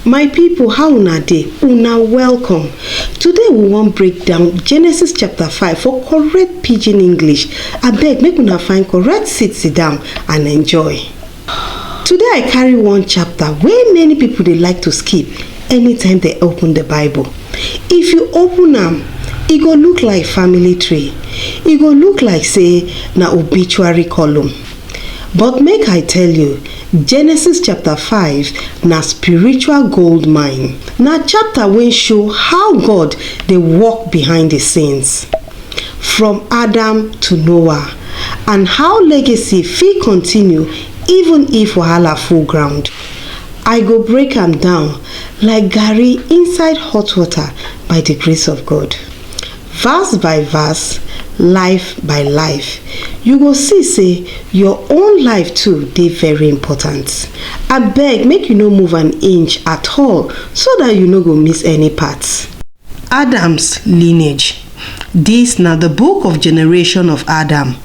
My people how una dey? Una welcome. Today we wan break down Genesis chapter 5 for correct pidgin English. Abeg make una find correct seat sit down and enjoy. Today I carry one chapter wey many people dey like to skip anytime they open the Bible. If you open am, e go look like family tree. E go look like say na obituary column. But make I tell you, Genesis chapter 5 na spiritual gold mine. Na chapter wey show how God dey work behind the scenes, from Adam to Noah, and how legacy fit continue even if wahala full ground. I go break am down like garri inside hot water by the grace of God. verse by verse, life by life, you go see say your own life too dey very important. Abeg make you no move an inch at all so that you no go miss any part. Adam's lineage. This na the book of generation of Adam.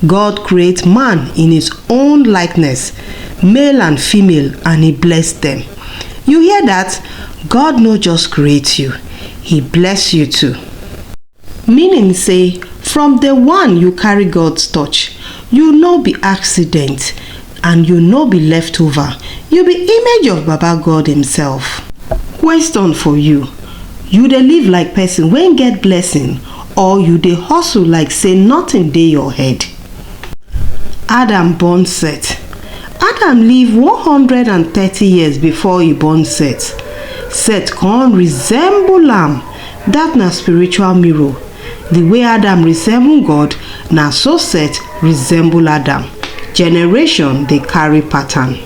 God create man in his own likeness, male and female and he bless them. You hear that? God no just create you, He bless you too. Meaning say, from the one you carry God's touch, you no be accident and you no be leftover. You be image of Baba God Himself. Question for you. You dey live like person wey get blessing or you dey hustle like say nothing dey your head? Adam born Set. Adam live 130 years before e born Set. Set come resemble am, dat na spiritual mirror. The way Adam resemble God, na so Set resemble Adam. Generation dey carry pattern.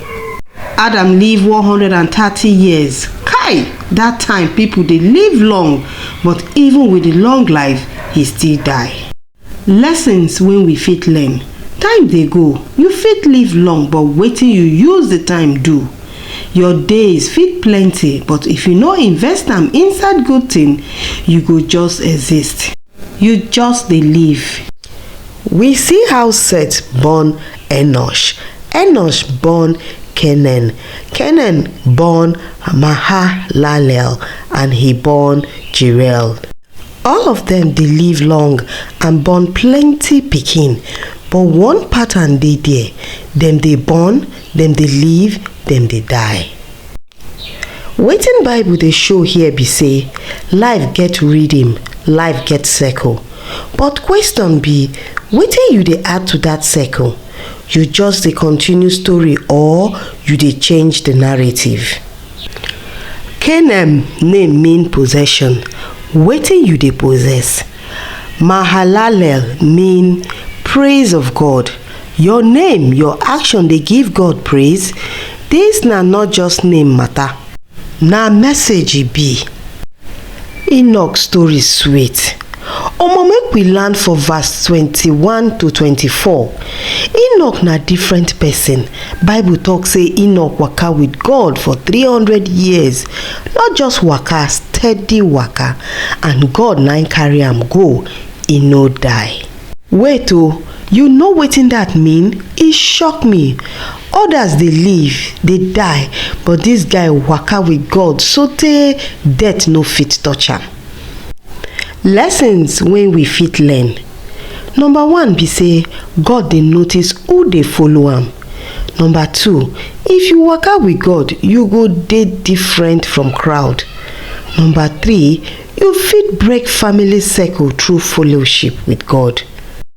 Adam live 130 years. Kai! Dat time people dey live long but even with the long life, he still die. Lessons wey we fit learn, Time dey go, you fit live long but wetin you use the time do? Your days fit plenty but if you no invest am inside good thing, you go just exist. You just dey live. We see how Seth born Enosh, Enosh born Kenan, Kenan born Mahalalel and he born Jeriel. All of dem dey live long and born plenty pikin, but one pattern dey there, dem dey born, dem dey live, dem dey die. Wetin bible dey show here be sey life get rhythm, life get circle but question be wetin you dey add to dat circle? You just dey continue story or you dey change the narrative? Canaan name mean possession, wetin you dey possess? Mahalalel mean praise of God, your name, your action dey give God praise? Dis na not just name matter, na message e be. Enoch story sweet. Omo make we land for verse twenty one to twenty four. Enoch na different person. Bible talk say Enoch waka with God for three hundred years. Not just waka, steady waka. And God na im carry am go. E no die. Wait o, you know wetin that mean? E shock me. Odas dey live, dey die, but dis guy waka wit God sotey death no fit touch am. Lessons wey we fit learn, Number one be sey God dey notice who dey follow am. Number two, if you waka wit God, you go dey different from crowd. Number three, you fit break family circle through fellowship wit God.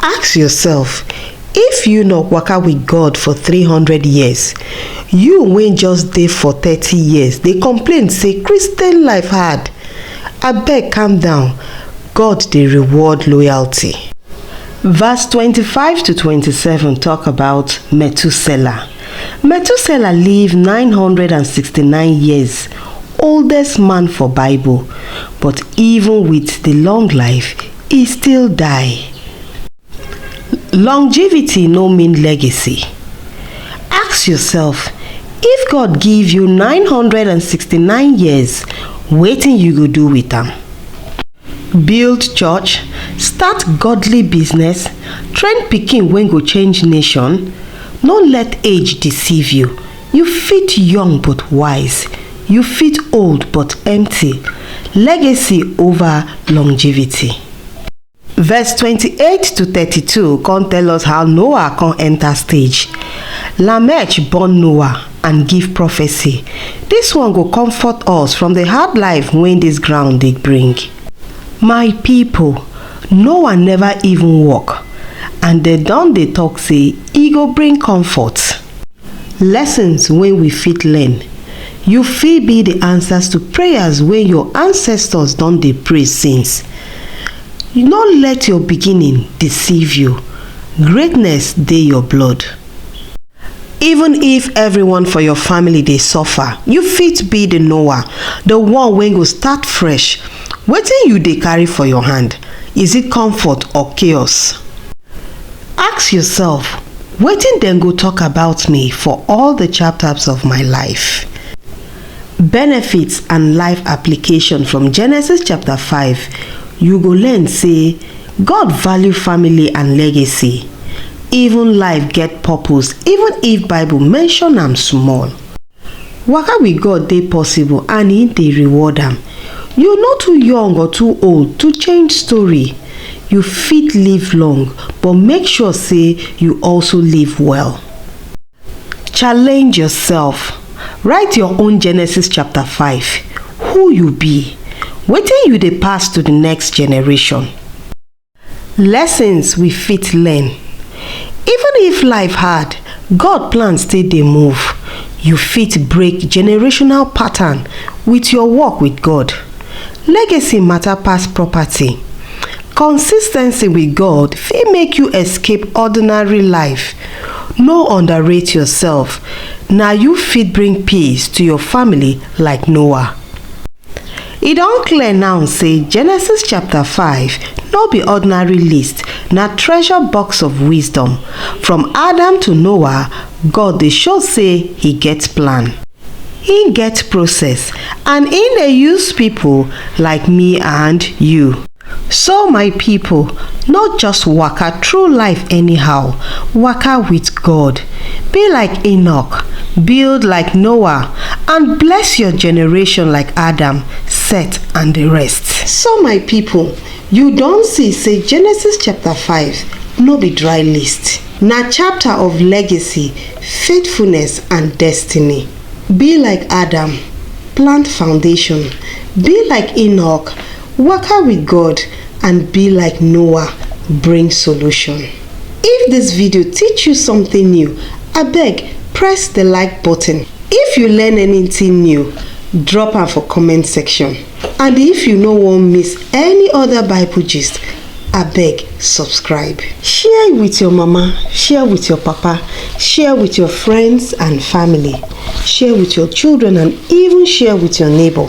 Ask yourself, if you no waka with God for three hundred years, you wey just dey for thirty years dey complain say Christian life hard, abeg calm down, God dey reward loyalty. Verse twenty five to twenty seven talk about Methuselah. Methuselah live nine hundred and sixty nine years, oldest man for Bible, but even with the long life, e still die. Longevity no mean legacy. Ask yourself, if God give you 969 years, wetin you go do with am? Build church, start godly business, train pikin wey go change nation? No let age deceive you. You fit young but wise, you fit old but empty, legacy over longevity. Verse twenty-eight to thirty-two come tell us how Noah come enter stage. Lamech born Noah and give prophecy. This one go comfort us from the hard life wey this ground dey bring. My people, Noah never even work and dem don dey talk say e go bring comfort. Lessons wey we fit learn, You fit be the answers to prayers wey your ancestors don dey pray since. No let your beginning deceive you, greatness dey your blood. Even if everyone for your family dey suffer, you fit be the Noah, the one wey go start fresh. Wetin you dey carry for your hand, is it comfort or chaos? Ask yourself, wetin dem go talk about me for all the chapters of my life? Benefits and life application from Genesis chapter 5, you go learn say God value family and legacy. Even life get purpose even if Bible mention am small. Waka with God dey possible and He dey reward am. You no too young or too old to change story. You fit live long but make sure say you also live well. Challenge yourself. Write your own Genesis chapter 5. Who you be? Wetin you dey pass to the next generation? Lessons we fit learn, Even if life hard, God plan still dey move. You fit break generational pattern with your work with God. Legacy matter pass property. Consis ten cy with God fit make you escape ordinary life. No underrate yourself, na you fit bring peace to your family like Noah. E don clear now say Genesis chapter 5 no be ordinary list, na treasure box of wisdom. From Adam to Noah, God dey show say he get plan. He get process and he dey use people like me and you. So my people, no just waka through life anyhow, waka with God. Be like Enoch, build like Noah, and bless your generation like Adam, Seth, and the rest. So my people, you don see say Genesis chapter 5 no be dry list. Na chapter of legacy, faithfulness, and destiny. Be like Adam, plant foundation. Be like Enoch, Waka with God and be like Noah bring solution. If this video teach you something new, abeg press the like button. If you learn anything new, drop am for comment section. And if you no wan miss any other Bible gist, abeg subscribe. Share with your mama, share with your papa, share with your friends and family, share with your children and even share with your neighbor.